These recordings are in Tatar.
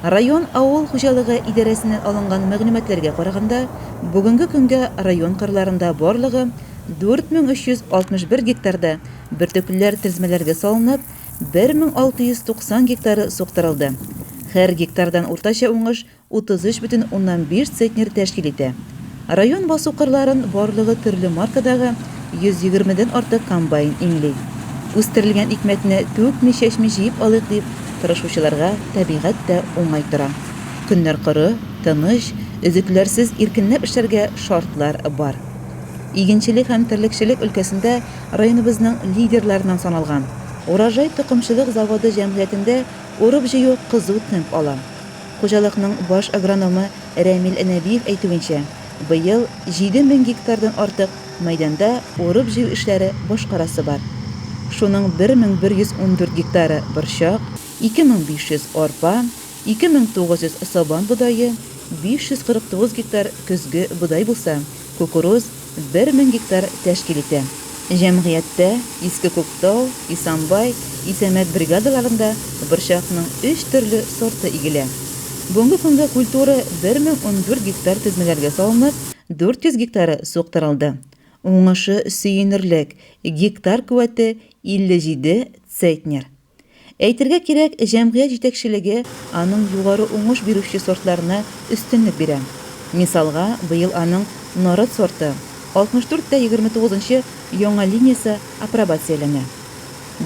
Район авыл хуҗалыгы идарәсеннән алынган мәгълүматларга караганда, бүгенге көнгә район кырларында барлыгы 4361 гектарда бөртеклеләр тезмәләргә салынып, 1690 гектары суктырылды. Һәр гектардан уртача уңыш 33,5 центнер тәшкил итә. Район басу кырларын барлыгы төрле маркадагы 120 дән артык комбайн иңли. Үстерелгән икмәкне түкми-чәчми җыеп алыйк дип тырышучыларга табигать тә уңай тора. Көннәр коры, тыныч, өзекләрсез иркенләп эшләргә шартлар бар. Игенчелек һәм терлекчелек өлкәсендә районыбызның лидерларыннан саналган Урожай токымчылык заводы җәмгыятендә урып-җыю кызу темп ала. Хуҗалыкның баш агрономы Рәмил Нәбиев әйтүенчә, быел җиде мең гектардан артык мәйданда урып-җыю эшләре башкарасы бар. Шуның бер мең бер йөз ундүрт гектары, борчак, ике мең биш йөз, арпа, ике мең тугыз йөз, сабан бодае, биш йөз кырык тугыз гектар, көзге бодай булса, кукуруз, бер мең гектар тәшкил итә. Җәмгыятьтә Иске Күктау, Исанбай, Исәмәт бригадаларында борчакның өч төрле сорты игелә. Бүгенге көнгә культура бер мең ундүрт гектар тезмәләргә салынып, дүрт йөз гектары суктырылды. Уңышы сөенерлек, гектар куәте 57 цейтнер. Әйтергә кирәк, җәмгыять җитәкчелеге аның югары уңыш бирүче сортларына өстенлек бирә. Мисалга, быел аның Нарат сорты, 64 тә 29 нчы яңа линиясе апробацияләнә.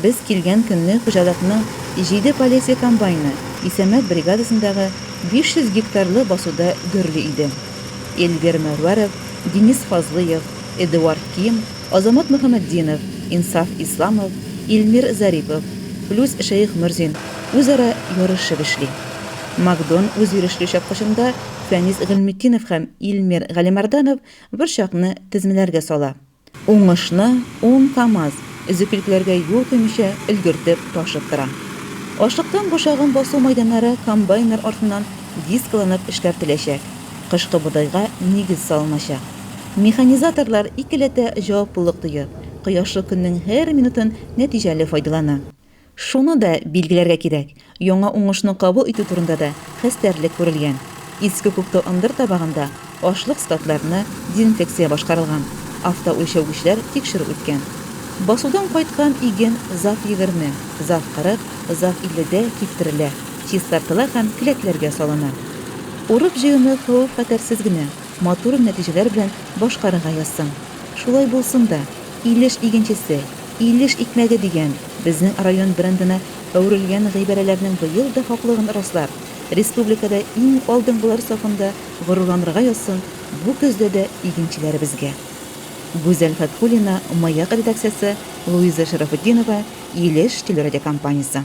Без килгән көнне хуҗалыкның җиде Полесье комбайны Исәмәт бригадасындагы 500 гектарлы басуда гөрли иде. Эльвир Мәрвәров, Денис Фазлыев, Эдуард Ким, Азамат Мөхәммәтдинов, Инсаф Исламов, Илмир Зарипов, Флүс Шәехмөрзин үзара ярышып эшли. Макдон үзйөрешле чапкычында Фәнис Гыйльметдинов һәм Илмир Галимәрданов бер чакны тезмәләргә сала. Уңышны ун КАМАЗ өзеклекләргә юл куймыйча өлгертеп ташып тора. Ашлыктан бушагын басу мәйданнары комбайннар артыннан дискаланып эшкәртеләчәк, кышкы бодайга нигез салыначак. Механизаторлар икеләтә җаваплылык тоя, кояшлы көннең һәр минутын нәтиҗәле файдалана. Шуны да билгеләргә кирәк, яңа уңышны кабул итү турында да хәстәрлек күрелгән. Иске Күктау ындыр табагында ашлык складларына дезинфекция башкарылган, автоүлчәүгечләр тикшерү үткән. Басудан кайткан иген зав егерме, зав кырык, зав илледә киптерелә, чистартыла һәм келәтләргә салына. Урып-җыюны хәвеф-хәтәрсез генә, Матур нәтиҗәләр белән башкарырга язсаң. Шулай булсын да! Илеш игенчесе, Илеш икмәге дигән безнең район брендына әверелгән гыйбарәләрнең быел да хаклыгын раслар, республикада иң алдынгылар сафында горурланырга язсын бу көздә дә игенчеләребезгә. Гүзәл Фәтхуллина Маяк редакциясе Луиза Шәрәфетдинова Илеш телерадиокомпаниясе.